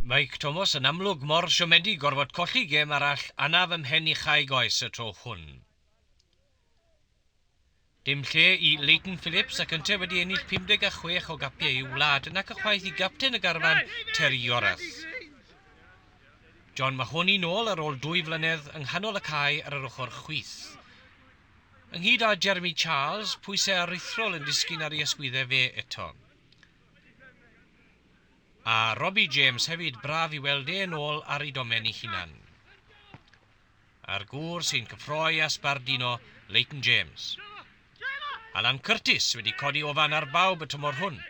Mike Thomas yn amlwg mor siomedig gorfod colli gem arall anaf ymhen i chaeg oes y tro hwn. Dim lle i Leighton Phillips ac ynte wedi ennill 56 o gapiau i'w wlad nac ychwaith i gapten y garfan Terry Yorath. John Mahoney nôl ar ôl dwy flynedd yng nghanol y cae ar yr ochr chwith. Ynghyd â Jeremy Charles, pwysau aruthrol yn disgyn ar ei ysgwyddau fe eto. A Robbie James hefyd, braf i weld e yn ôl ar ei domen ei hunan. A'r gŵr sy'n cyffroi a sbardino, Leighton James. Alan Curtis wedi codi ofan ar bawb y tymor hwn.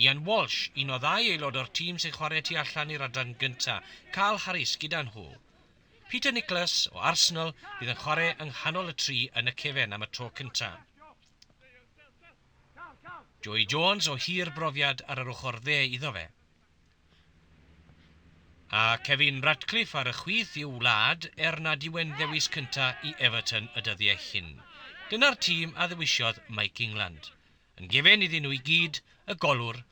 Ian Walsh, un o ddau aelod o'r tîm sy'n chwarae tu allan i'r adran gynta, Carl Harris gyda nhw. Peter Nicholas o Arsenal fydd yn chwarae yng nghanol y tri yn y cefen am y tro cynta. Joey Jones o hir brofiad ar yr ochr dde iddo fe. A Kevin Ratcliffe ar y chwith i'w wlad er nad yw e'n ddewis cynta' i Everton y dyddiau hyn. Dyna'r tîm a ddewisiodd Mike England. Yn gefn iddyn nhw i gyd, y golwr,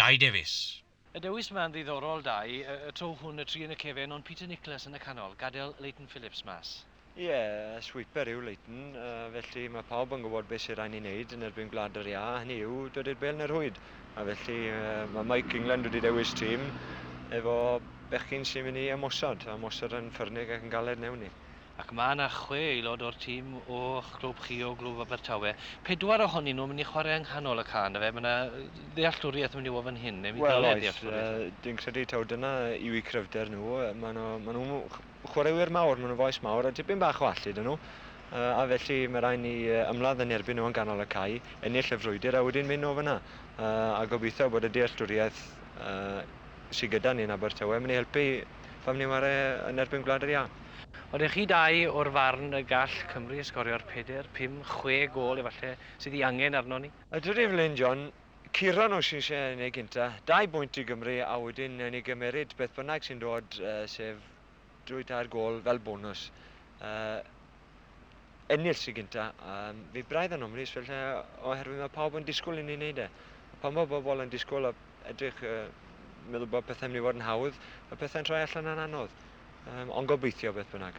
Dai Davies. A dewis man ddiddorol da i y tro hwn, y tri yn y cefen ond Peter Nicholas yn y canol, gadael Leighton Phillips mas. Ie, swiper yw Leighton, felly mae pawb yn gwybod beth sydd rhaid ni wneud yn erbyn Gwlad yr Iâ, hynny yw dod i'r bel yn y rhwyd. A felly mae Mike England wedi dewis tîm efo bechgyn sy'n mynd i ymosod, ymosod yn ffyrnig ac yn galed mewn i. Ac mae yna chwe aelod o'r tîm o'ch clwb chi o Glwb Abertawe. Pedwar ohonyn nhw'n mynd i chwarae yng nghanol y ca yn dyfe? Mae yna ddealltwriaeth yn mynd i fod fan hyn, neu mi ddyle ddealltwriaeth fod. Wel oes, dwi'n credu taw dyna yw eu cryfder nhw. Maen nhw, maen nhw'n chwaraewyr mawr, maen nhw'n faes mawr a dipyn bach o allu 'da nhw. A felly mae rhaid ni ymladd yn erbyn nhw yn ganol y cae, ennill y frwydr a wedyn mynd o fan'na. A gobeithio bod y dealltwriaeth sydd gyda ni yn Abertawe yn mynd i helpu pam ni'n ware yn erbyn Gwlad yr Iâ. Odych chi dau o'r farn y gall Cymru sgorio'r peder, pum, chwe gôl efalle sydd i angen arnon ni? Ydw Evelyn John, Ciron o Shropshire yn eu gynta, dau bwynt i Gymru a wedyn newn ni gymeryd beth bynnag sy'n dod sef dwy tair gôl fel bonws. ennill tro gynta, a fi braidd yn ofnus fel lle oherwydd mae pawb yn disgwyl i ni wneud e. A pan mae bobl yn disgwyl a edrych uh, meddwl bod pethau'n mynd i fod yn hawdd, y pethau'n troi allan yn anodd. Um, ond gobeithio beth bynnag.